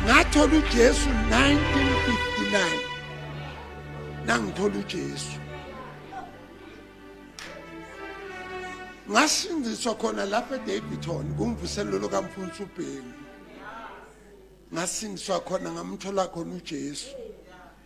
ngathola uJesu 1959 nangithola uJesu ngasindiswa khona lapha eDavidton kumvuselelo kamfundisi uBheki ngasindiswa khona ngamthola khona uJesu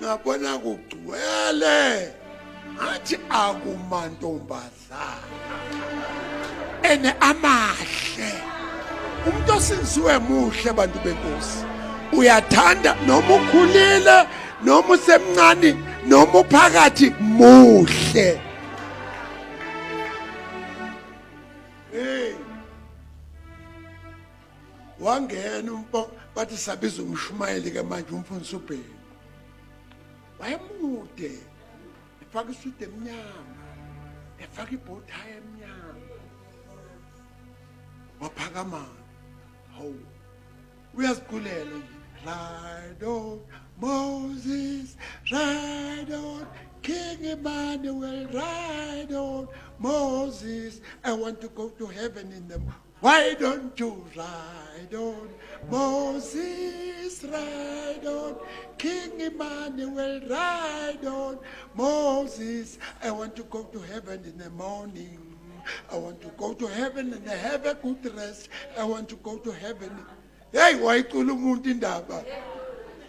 ngabona kugcwele athi akumantombazana ene amahle umuntu osinziwe muhle bantu benkosi uyathanda noma ukhulile noma usemncane noma uphakathi muhle wangena umfo bathi sabiza umshumayeli ke manje umfundisi ubheki wayemude efaka isudu emnyama efaka ibhothayi emnyama waphakama hawu uyaziqulela nje ride on moses ride on king emmanuel ride on moses i want to go to heaven in the Why don't you ride on Moses ride on King Emmanuel ride on Moses I want to go to heaven in the morning I want to go to heaven and have a good rest I want to go to heaven Hey wayicula umuntu indaba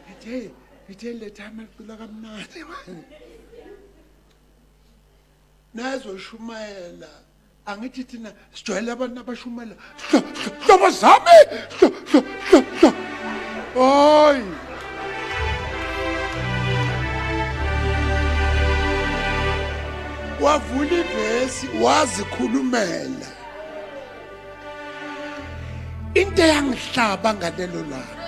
Ngithe ngithe letha amacula kamnandi manje Nazo shumayela angithi thina sijwayele abantu abashumela hlobo zami hayi wavula ivesi wazikhulumela into eyangihlaba ngalelo langa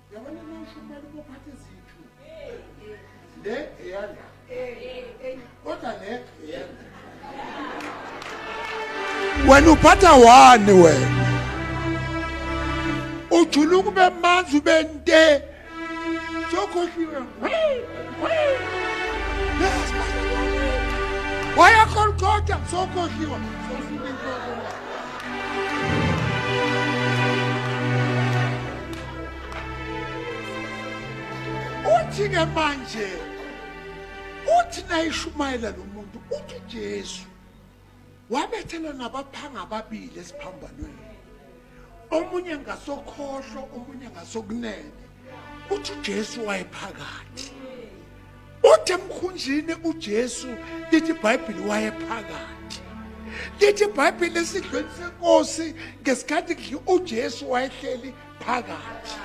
Yabona nasho kumele ubophathe izithu. Le eyanda. Kodwa le eyanda. Wena uphatha wani wena? Ujula ukube manzi ube nte. Sokhohliwe. Waya kolkota sokhohliwe. Sokhohliwe. uthi-ke manje uthi nayishumayela lo muntu uthi ujesu wabethelwa nabaphanga ababili esiphambanweni omunye ngasokhohlo omunye ngasokunene uthi ujesu wayephakathi Uthi emkhunjini uJesu lithi iBhayibheli wayephakathi. Lithi iBhayibheli esidlweni senkosi ngesikhathi kudla uJesu wayehleli phakathi.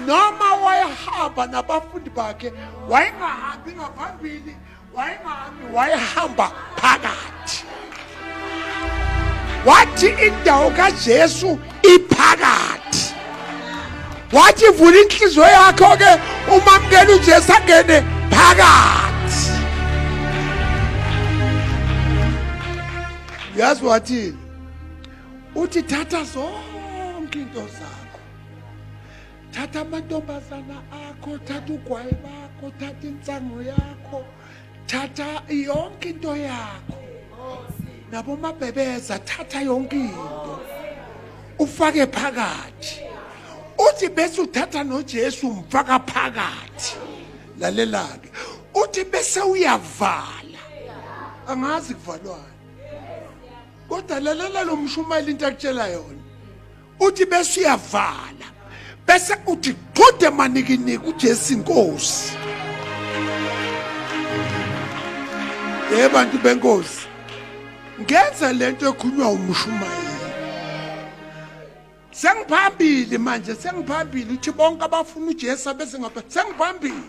Noma wayehamba nabafundi bakhe wayengahambi ngaphambili wayengahambi wayehamba phakathi. wathi indawo kaJesu iphakathi wathi vula inhliziyo yakho ke umamkela uJesu angene phakathi yazi wathini uthi thatha zonke into zakho thatha amantombazana akho thatha ugwayi bakho thatha insango yakho thatha yonke into yakho nabomabhebeza thatha yonke into ufake phakathi uthi bese uthatha noJesu umfaka phakathi lalelake uthi bese uyavala angazi kuvalwana kodwa lalela lo mshumayeli into akutshela yona uthi bese uyavala bese uthi qhude manikiniki uJesu inkosi ye bantu benkosi ngenza lento ekhulunywa umshumayeli sengiphambili manje sengiphambili uthi bonke abafuna uJesu bese ngapha sengiphambili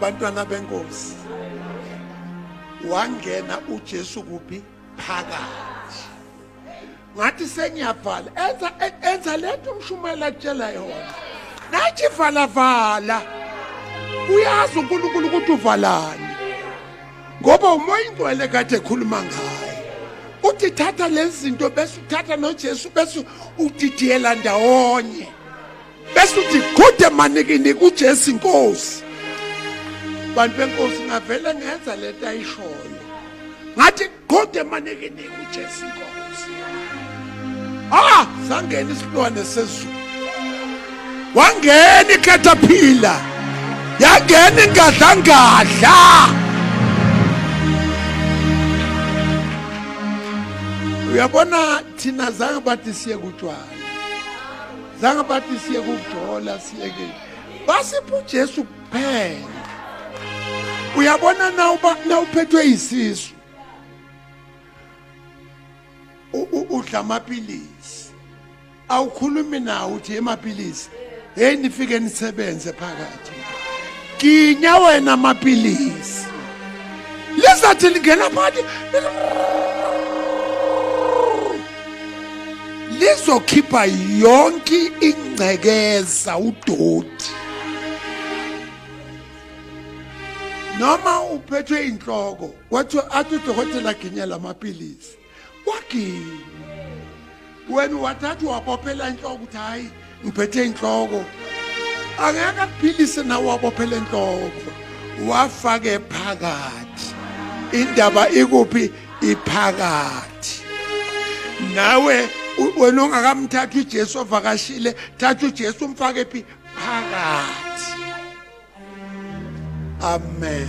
bantwana benkosi wangena uJesu kuphi phakathi ngathi sengiyavala enza enza lento umshumayela kutshela yona nathi vala vala uyazi uNkulunkulu ukuthi uvalani ngoba umoya ingcwele kade ekhuluma ngayo uthi thatha lezi zinto bese uthatha nojesu bese udidiyela ndawonye bese uthi gude manikini kujesu inkosi bantu benkosi ngavele ngenza lento ayishoyo ngathi gude manikini uJesu inkosi ah sangena isilwane sezulu wangena ikhethaphila yangena ingadlangadla uyabona thina zange bathi siye kutshwala zange bathi siye kujola siyeke basipha uJesu kuphela uyabona na uba na uphethwe isisu udla amapilisi awukhulumi nawo uthi emapilisi hey nifike nisebenze phakathi ginya wena amapilisi lizathi lingena phakathi lizokhipha yonke ingcekeza udoti noma uphethwe inhloko wathi athi udokotela aginye la maphilisi waginya wena wathatha wabophela inhloko ukuthi hhayi ngiphethe inhloko angeke akuphilise nawe wabophela inhloko wafake phakathi indaba ikuphi iphakathi nawe wena ongakamthathi uJesu ovakashile thatha uJesu umfake phi phakathi amen